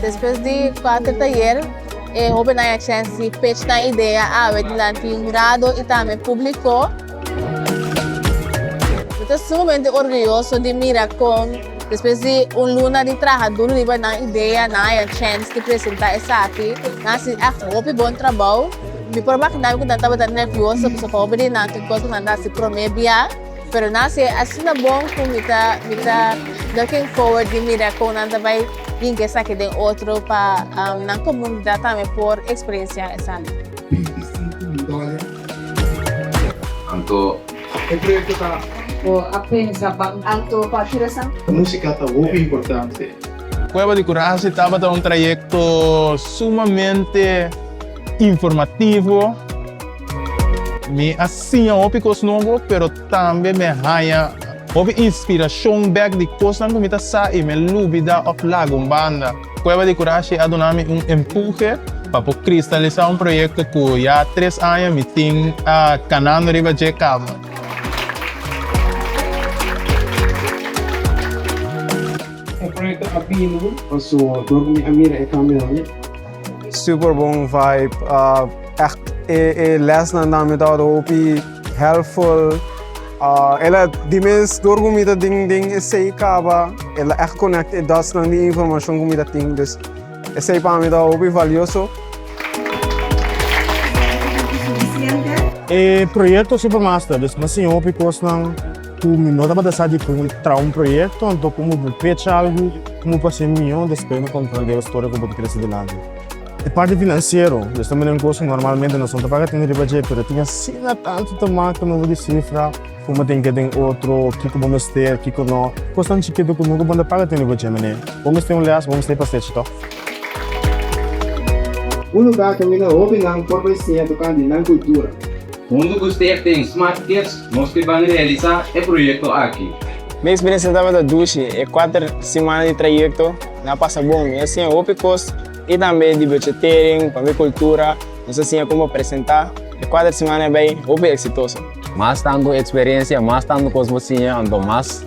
Despues di kuater tayer, e hobennan a chance di pech nan idea awe dilanti hurado y tambe publico. Nos ta sumamente orguyoso di mira con despues di un luna di traha duro riba nan idea, nan haya chance di presenta esaki. Nan a hasi echt hopi bon trabao. Mi por imaginami cu nan tabata nervioso pasobra hopi di nan tin cos cu nan ta hasi prome bia. Pero nan a sey, Asina bon ku mi ta mi ta looking forward di mira kon nan ta bai yinka esaki den otro pa nan komunidat tambe por eksperensiá esaki. Bintisinko mil dòler i si ta por lesa. Anto e proyekto ta. Bo a pensa ban anto pa tira sa? Músika ta hopi importante. Kueba di Kurasi tabata un trayekto sumamente informativo. Mi a siña hopi kos nobo, pero tambe mi a haña hopi inspirashon bek di kosnan ku mi ta sa i mi a lubida òf lagun banda. Kueba di Kurashi a duna mi un empuje pa por kristalisá un proyekto ku ya tres aña mi tin kanando riba dje kamba. E proyekto a bini pasobra ku mi a mira e kambionan. Super bon vibe echt e lesnan nan mi ta word hopi helpful e la di mes door cu mi ta den den esey caba e la echt connect e dots nan di informacion cu mi ta tin dus esey pa mi ta hopi valioso. E proyecto super master dus mi a siña hopi cosnan. Cu mi no tabata sa di cu mi traha un proyecto, anto como bo fecha algo como pa ser mihó, despues no comprende e storia cu bo ta kere sigui dilanti. E parti financiero, bo sta mira un cos cu normalmente noson ta paga tin riba dje, pero tin asina tanto ta maca nobo di cifra, como tin ke den otro, kico bo mester, kico no, cosnan chikito cu nunca bo no ta paga tin riba dje, mene. Bo mester un les, bo mester pa stechi to. Un lugar ta mira hobinan por bay siña tocante nan cultura. Huntu cu Stef den Smart Kids nos ke ban realisa e proyecto aki. Mi experiencia tabata dushi, e cuater simana di trayecto nan a pasa bon. Mi a siña hopi cos y tambe di bochetering, pabia cultura, nos a siña como presenta. E cuater simana a bay hopi exitoso. Mas tanto experiencia, mas tanto cos bo siña, anto mas.